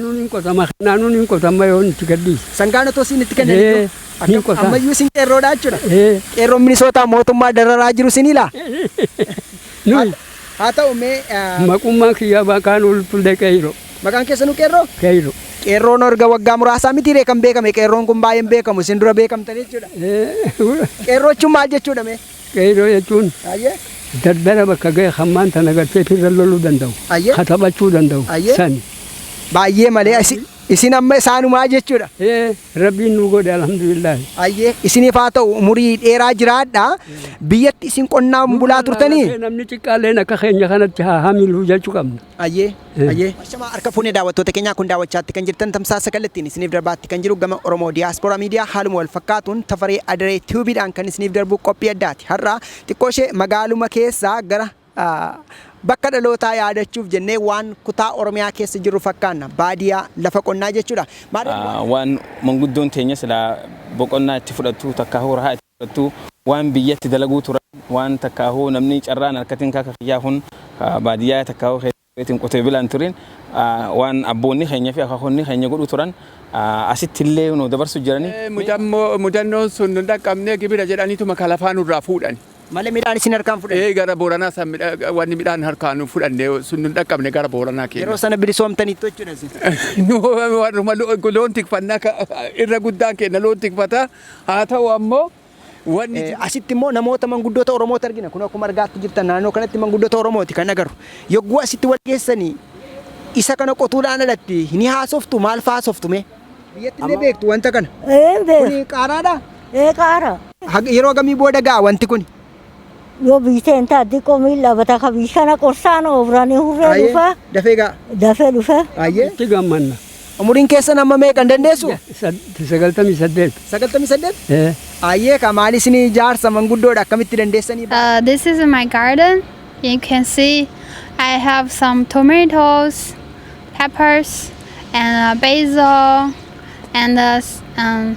Nuun hin qotama kennaa nuun hin qotamma yoo nuti gadhiise. Sangaan otoo siin itti kennan Ee, iyyuu hin qotaan. ammayyuu isin qeerroodhaa jechuudha. Ee, Qeerroon Minisootaa mootummaa dararaa jiru isin ilaa. nuyi Haa ta'u mee eh, maqummaan kiyyaa baqaan ulfullee qeeyro maqaan keessanuu qeerroo? qeeyro. Qeerroon erga waggaa muraasaa mitiiree kan beekame qeerroon kun baay'een beekamu isin dura beekamtan jechuudha. Ee, Qeerroochuun maal jechuudha mee? Qeerroo jechuun dardara bakka gahe kan maan tana gartee firra loluu danda'u, ka taphachuu danda'u sani. Baay'ee malee isin amma isaanumaa jechuudha. Ee rabbiin nuu godhe alhamdulillaahi. Ayyee isiniif haa ta'u umurii dheeraa jiraadha. Biyyatti isin qonnaan bulaa turtanii? Namni xiqqaalleen akka keenya kanatti haa hamilu jechuu qabna. Ayyee Ayyee. Ashamaa harka fuune daawwattoota keenyaa kun daawwachaatti kan jirtan tamsaasa kallattiin isiniif darbaatti kan jiru gama Oromo Diaspora Media haaluma wal fakkaatuun Tafaree Adaree Tube dhaan kan isiniif darbu qophii addaati har'a xiqqoo ishee magaaluma keessaa gara bakka dhalootaa yaadachuuf jennee waan kutaa Oromiyaa keessa jirru fakkaanna baadiyaa lafa qonnaa jechuudha. Waan manguddoon teenya silaa boqonnaa itti fudhattu takkaa hoo rahaa itti Keessattuu waan biyyatti dalaguu turan waan takkaahuu namni carraan arkatin kaka kiyyaa kun ka baadiyyaa takkaahuu keessa tureetiin qotee bilaa hin turin waan abboonni keenya fi akaakonni keenya godhuu turan asitti illee nuu dabarsu jirani. Mudannoon sun nun dhaqqabnee gibira jedhaniituma ka lafaa nurraa fuudhani. Malee midhaan isin harkaa hin fudhanne? Ee gara Booranaa san wanni midhaan harkaa nun fudhanne sun nun dhaqqabne gara Booranaa keenya. Yeroo sana bilisoomtaniittu jechuudha isin? Warruma loon tikfannaa irra guddaan keenya loon tikfataa Haa ta'u ammoo wanni jiru. Asitti immoo namoota manguddoota Oromoota argina. Kun akkuma argaatti jirtan naannoo kanatti manguddoota Oromooti kan agarru. Yogguu asitti wal geessanii isa kana qotuudhaan alatti ni haasoftu maal fa'aa haasoftu mee? Biyyatti illee beektu wanta kana. Ee beeku. Kuni qaaraadha? Ee qaara. Hag- Yeroo gamii booda ga'a wanti kuni? Yoo biyyi ta'e hin ta'a diqqoo miil dhaabata ka biyyi kana qorsaan oofranii hurree Ayyee, dhufa dafee ga'a. dafee dhufe. Ayyee. Itti gammanna. Umuriin keessan amma meeqa hin dandeessu? Sad- Sagaltamii saddeet. 98? Eh, Ayyee ka maali isin jaarsa manguddoodha akkamitti dandeessanii? Uh, this is my garden. You can see I have some tomatoes, peppers, and uh, basil, and uh, s- um,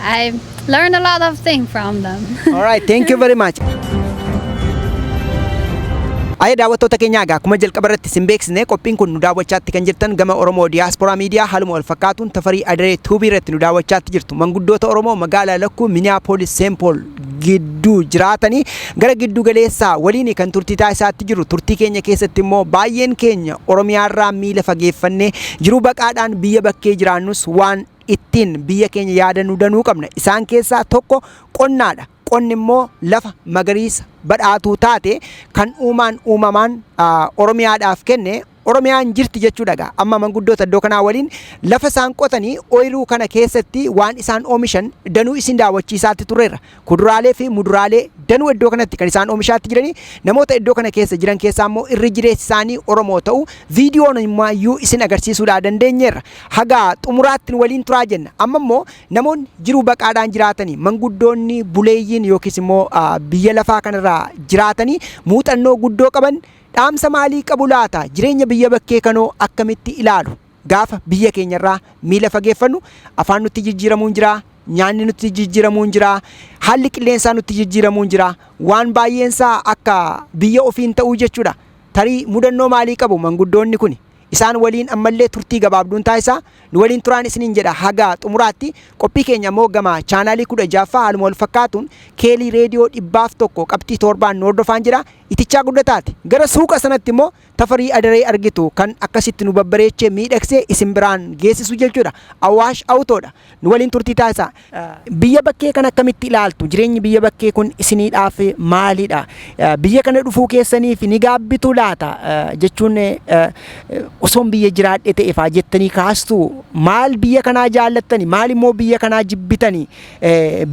I learned a lot of things from them. All right, thank you very much. Ayee daawwattoota keenyaa egaa akkuma jalqaba irratti isin beeksisne qophiin kun nu daawwachaatti kan jirtan gama Oromoo Diyaaspooraa Miidiyaa haaluma wal fakkaatuun tafarii adaree tuubii irratti nu daawwachaatti jirtu manguddoota Oromoo magaalaa Lakkuu Miniyaapolis Seenpool gidduu jiraatanii gara giddu galeessaa waliin kan turtii taasisaatti jiru turtii keenya keessatti immoo baay'een keenya Oromiyaarraa miila fageeffannee jiruu baqaadhaan biyya bakkee jiraannus waan ittiin biyya keenya yaadannu danuu qabna. Isaan keessaa tokko qonnaadha. Qonni immoo lafa magariisa badhaatuu taate kan uumaan uumamaan Oromiyaadhaaf kenne Oromiyaan jirti jechuudha gaa. Amma manguddoota iddoo kanaa waliin lafa isaan qotanii ooyiruu kana keessatti waan isaan oomishan danuu isin daawwachiisaatti turreerra. Kuduraalee fi muduraalee danuu iddoo kanatti kan isaan oomishaatti jiranii namoota iddoo kana keessa jiran keessaa immoo irri jireessi isaanii Oromoo ta'u viidiyoon immaayyuu isin agarsiisuudhaa dandeenyeerra. Hagaa xumuraatti nu waliin turaa jenna. Amma immoo namoonni jiruu baqaadhaan jiraatanii manguddoonni buleeyyiin yookiis immoo biyya lafaa kanarraa jiraatanii muuxannoo guddoo qaban dhaamsa maalii qabu laata? Jireenya biyya bakkee kanoo akkamitti ilaalu? Gaafa biyya keenya irraa miila fageeffannu afaan nutti jijjiiramuu hin jiraa, nyaanni nutti jijjiiramuu hin jiraa, haalli qilleensaa nutti jijjiiramuu hin jiraa. Waan baay'een isaa akka biyya ofii hin ta'uu jechuudha. Tarii mudannoo maalii qabu manguddoonni kuni? Isaan waliin ammallee turtii gabaabduun taasisaa. Nu waliin turaan isiniin jedha haga xumuraatti. Qophii keenya immoo gama chaanaalii 16ffaa haaluma wal fakkaatuun keelii reediyoo dhibbaaf tokko qabxii toorbaan nu hordofaan jira. Itichaa guddataati. Gara suuqa sanatti immoo Tafarii Adaree argitu kan akkasitti nu babbareechee miidhagsee isin biraan geessisu jechuudha. Awaash Awutoo dha. Nu waliin turtii taasisaa. Biyya bakkee kana akkamitti ilaaltu? Jireenyi biyya bakkee kun isiniidhaaf maalidha? Biyya kana dhufuu keessaniif ni gaabbitu laata? Jechuun osoon biyya jiraadhe ta'e faa jettanii kaastu. Maal biyya kanaa jaallattani? Maal immoo biyya kanaa jibbitani?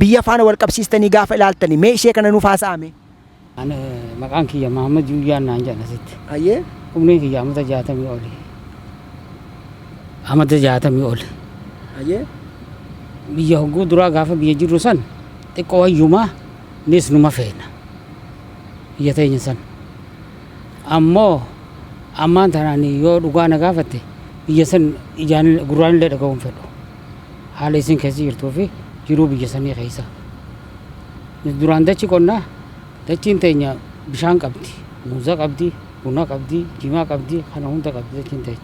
Biyya faana wal qabsiistanii gaafa ilaaltani mee ishee kana nuuf haasa'aa mee. Ani maqaan kiyya Mahammad Yuuyyaan naan jedhan asitti. Hayyee. Umriin kiyya amata jaatamii oli. Amata jaatamii oli. Hayyee. Biyya hogguu duraa gaafa biyya jirru san xiqqoo wayyumaa nis numa feena. Biyya teenya san. Ammoo ammaan tanaan yoo dhugaa na gaafatte biyya san ijaan gurraan illee dhaga'uu hin fedhu. Haala isin keessa jirtuu fi jiruu biyya sanii keessa. duraan dachi qonnaa dachiin teenya bishaan qabdi muuza qabdi buna qabdi jimaa qabdi kana hunda qabdi dachiin teenya